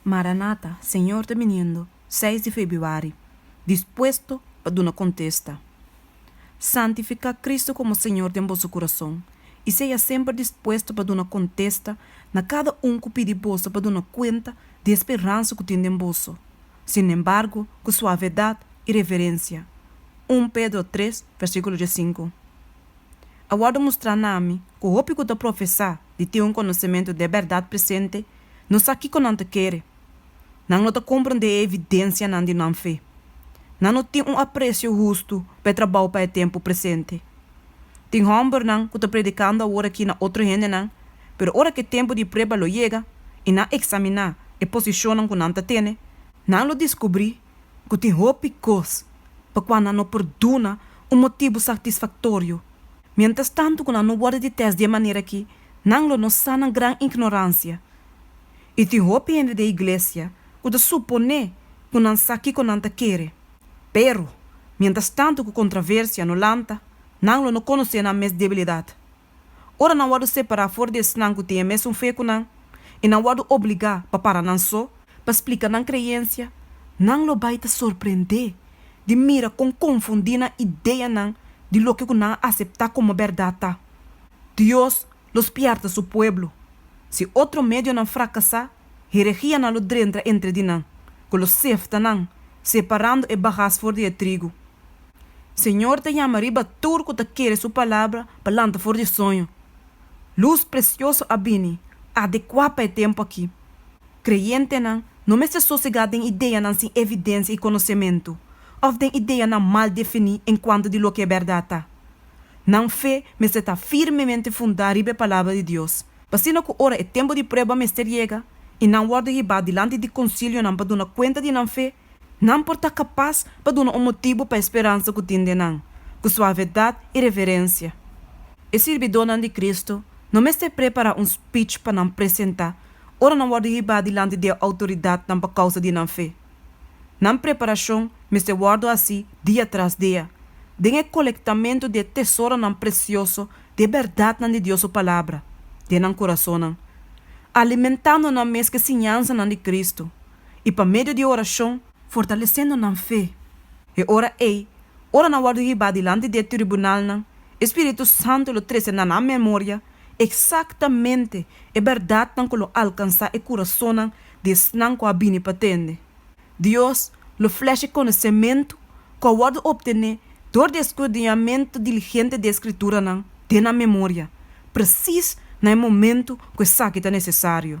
Maranata, Señor ta biniendo, seis di febiuari, Dispuesto pa duna contesta. Santifica Cristo como Señor den boso curason y seya semper dispuesto pa duna contesta na cada un cu pidi boso pa duna cuenta di e speransa cu tin den boso, sinembargo cu suavedad y reverencia. Un Pedro tres, versiculo diescinco A wordo mustra na mi cu hopi cu ta profesa di tin un conocemento de berdad presente, No sa kiko nan ta kere. Nan no ta komprendé e evidensianan di nan fe. Nan no tin un apresio hustu pa e trabou pa e tempu presente. Tin hòmbernan ku ta predikando awor akí na otro hendenan, pero ora ku e tempu di prueba lo yega i nan eksaminá e posishonnan ku nan ta tene, nan lo diskubrí, ku tin hopi kos pa kua nan no por duna un motibu satisfaktorio. Miéntras tantu ku nan no wòrdu di tèst di e manera akí, nan lo no sa nan gran ignoransia. I tin hopi hende di e iglesia ku ta suponé ku nan sa kiko nan ta kere. Pero, miéntras tantu ku kontraversia no lanta, nan lo no konosé nan mes debilidat. Ora nan wòrdu separá for di esnan ku tin e mesun fe ku nan i nan wòrdu obligá pa para nan so pa splika nan kreensia, nan lo bai ta sorprendé di mira kon konfundí nan ideanan di loke ku nan a aseptá komo bèrdat ta. Dios lo spièrta su pueblo. Si otro medionan frakasá, heregia nan lo drentra entre di nan, ku lo sefta nan, separando e bagas for di e trigu. Señor ta yama riba tur cu ta kere su palabra pa lanta for di soño. Luz precioso a bini, adecua pa e tempo aki. Creyentenan no mester sosega den ideanan sin evidencia y conocemento, of den ideanan mal defini en cuanto di loke e berdad ta. Nan fe mester ta firmemente funda riba e Palabra di Dios, p'asina cu ora e tempo di prueba mester yega y nan worde hiba dilanti di concilionan pa duna cuenta di nan fe, Nan por ta kapas pa duna un motibu pa e speransa ku tin den nan, ku suavedat i reverensia. E sirbidónan di Kristu no mester prepará un spich pa nan presentá ora nan wòrdu hibá dilanti di e outoridatnan pa kousa di nan fe. Nan preparashon mester wòrdu hasi dia tras dia, den e kolektamentu di e tesoronan presioso di e bèrdatnan di Dios su Palabra den nan kurasonnan, alimentando nan mes ku e siñansanan di Kristu. i pa medio di e orashon, fortalesendo nan fe, e ora ei, ora nan wòrdu hibá dilanti di e tribunalnan, e Spiritu Santu lo trese na nan memoria eksaktamente e bèrdatnan ku lo alkansá e kurasonnan di esnan ku a bini pa tende. Dios lo flèsh e konosementu ku a wòrdu optené dor di e skrudiniamentu diligente di e Skrituranan den nan memoria, presis na e momentu ku esaki ta nesesario.